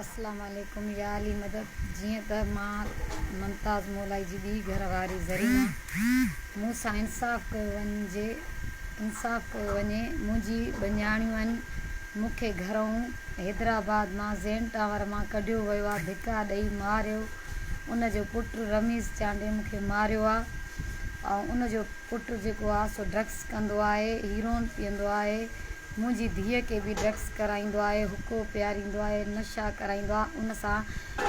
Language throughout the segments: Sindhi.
السلام عليڪم يا علي مدد جيئن ته مان ممتاز مولائي جي ٻي گهر واري زرينه مون سان انصاف ڪيو وڃي انصاف ڪيو وڃي منهنجي ٻنياڻيون مون کي گهرئون حيدرآباد مان زين ٽاور مان ڪڍيو ويو آ ڌڪا ڏئي ماريو ان جو پٽ رميز چانڊيو مون کي ماريو آ ۽ ان جو پٽ جيڪو آ سو ڊرگس ڪندو آهي هيروئن پيئندو آهي منهنجي ڌيء کي به ڊرگس ڪرائيندو آهي، حقو پياريندو آهي، نشا ڪرائيندو آهي، ان سان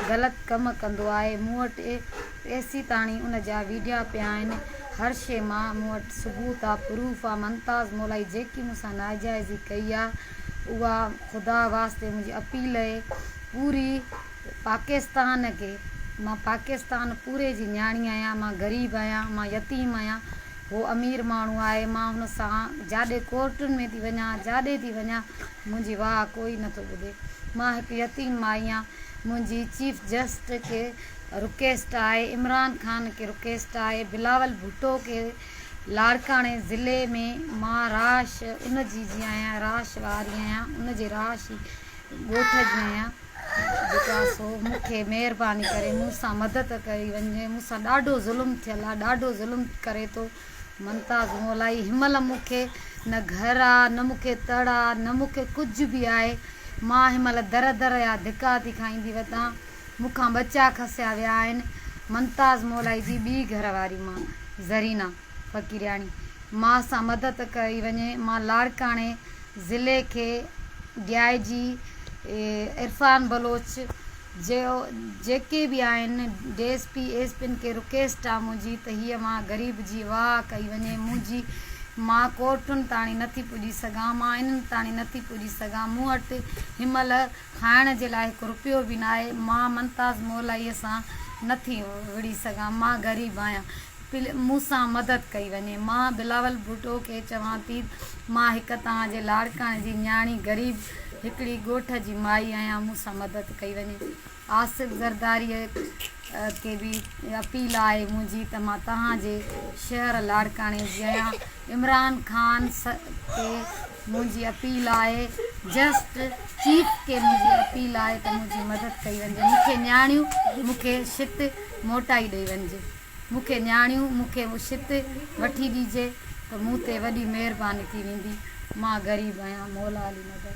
غلط ڪم ڪندو آهي، مون وٽ اي سي تاڻي ان جا ويڊيا پيا آهن، هر شيء مان مون وٽ ثبوت آ، پروف آ، ممتاز مولائي جيڪي مون سان ناجائزي ڪئي آ اها خدا واسطي منهنجي اپيل اهي پوري پاڪستان کي مان پاڪستان پوري جي نياڻي آهيان، مان غريب آهيان، مان يتيم آهيان، هو امير ماڻهو آهي، مان هن سان جاڏي ڪورٽن ۾ ٿي وڃان، جاڏي ٿي وڃان، منهنجي واهه ڪوئي نٿو ٻڌي. مان هڪ يتيم مائي آهيان. منهنجي چيف جسٽس کي رڪويسٽ آهي، عمران خان کي رڪويسٽ آهي، بلاول ڀٽو کي، لاڙڪاڻي ضلعي ۾ مان راش ان جي جي آهيان، راش واري آهيان، ان جي راش ڳوٺ جي آهيان. جيڪو آهي سو مون کي مهرباني ڪري مون سان مدد ڪئي وڃي مون سان ڏاڍو ظلم ٿيل آهي ڏاڍو ظلم ڪري ٿو ممتاز مولائي هن مهل مون کي نه گهر آهي نه مون کي تڙ آهي نه مون کي ڪجهه به آهي مان هن مهل در در يا ڌڪا ٿي کائيندي وتان مون کان ٻچا کسيا ويا آهن ممتاز مولائي جي ٻي گهر واري مان زرينا فقيرياڻي، ماء سان مدد ڪئي وڃي. مان لاڙڪاڻي ضلعي کي ڊي آء جي عرفان بلوچ جيو جيڪي به آهن ڊي ايس پي ايس پين کي رڪيسٽ آ منهنجي ته هيء ماء غريب جي واهه ڪئي وڃي منهنجي مان ڪورٽن تاڻي نٿي پڄي سگهان مان انهن تاڻي نٿي پڄي سگهان مون وٽ هنمهل کائڻ جي لاء هڪ رپيو به ناهي مان منتاز مولائي سان نٿي وڙهي سگهان مان غريب آهيان پليز مون سان مدد ڪئي وڃي. مان بلاول ڀٽو کي چوان ٿي ته مان هڪ توهان جي لاڙڪاڻي جي نياڻي غريب هڪڙي ڳوٺ جي مائي آهيان مون سان مدد ڪئي وڃي. آصف زرداريء کي به اپيل آهي منهنجي ته مان توهان جي شهر لاڙڪاڻي جي آهيان عمران خان کي منهنجي اپيل آهي جسٽ چيف کي منهنجي اپيل آهي ته منهنجي مدد ڪئي وڃي مون کي نياڻيون مون کي شت موٽائي ڏئي وڃجي. مون کي نياڻيون، مون کي اهو شت وٺي ڏيجي ته مون تي وڏي مهرباني ٿي ويندي. مان غريب آهيان مولا علي مدد.